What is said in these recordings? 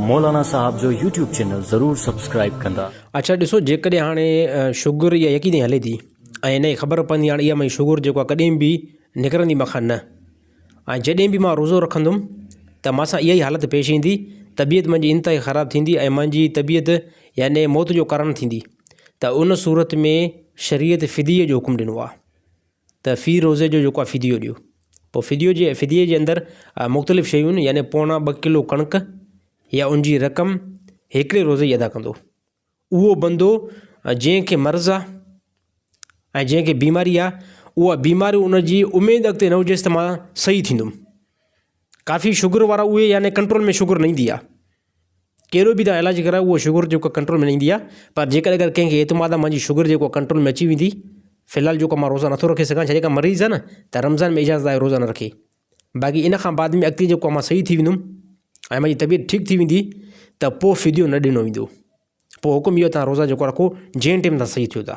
مولانا صاحب جو YouTube channel ضرور سبسڪرائب ڪندا. اڇا ڏسو جيڪڏهن هاڻي شگر اها يقيني هلي ٿي ۽ هن کي خبر پوندي هاڻي اها منهنجي شگر جيڪو آهي ڪڏهن به نڪرندي مون کان نه ۽ جڏهن به مان روزو رکندم ته مان سان اها ئي حالت پيش ايندي طبيعت منهنجي انتهائي خراب ٿيندي ۽ منهنجي طبيعت يعني موت جو ڪارڻ ٿيندي ته ان صورت ۾ شريعت فديي جو حڪم ڏنو آهي. ته في روزي جو جيڪو آهي فديو ڏيو. پوء فديو جي فديي جي اندر مختلف شيون يعني پوڻا ٻه ڪلو ڪڻڪ يا ان جي رقم هيڪڙي روزي جي ادا ڪندو. اهو بندو جنهن کي مرض آ ۽ جنهن کي بيماري آ اها بيماري ان جي اميد اڳتي نه هجيس ته مان صحيح ٿيندم. ڪافي شگر وارا اهي يعني ڪنٽرول ۾ شگر نه ايندي آ. ڪهڙو به تهان علاج ڪرايو اهو شگر جيڪو ڪنٽرول ۾ نه ايندي آ پر جيڪڏهن اگر ڪنهن کي اعتماد آ منهنجي شگر جيڪو آ ڪنٽرول ۾ اچي ويندي في الحال جيڪو مان روزا نٿو رکي سگهان ڇا جيڪا مريض آ نه ته رمضان ۾ اجازت آهي روزا نه رکي باقي ان کان بعد ۾ اڳتي جيڪو آ مان صحيح ٿي ويندم ۽ منهنجي طبيعت ٺيڪ ٿي ويندي ته پو فديو نه ڏنو ويندو پو حڪم اهو تهان روزا جيڪو رکو جنهن ٽيم تهان صحيح ٿيو ٿا.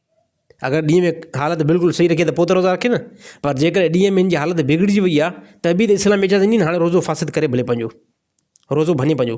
اگر ڏينهن ۾ حالت بلڪل صحيح رکي ته پوء ته روزا رکي نه پر جيڪڏهن ڏينهن ۾ هن جي حالت بگڙجي وئي آهي ته به ته اسلام اجازت ڏني هاڻي روزو فاسد ڪري ڀلي پنهنجو روزو ڀڃي پنهنجو.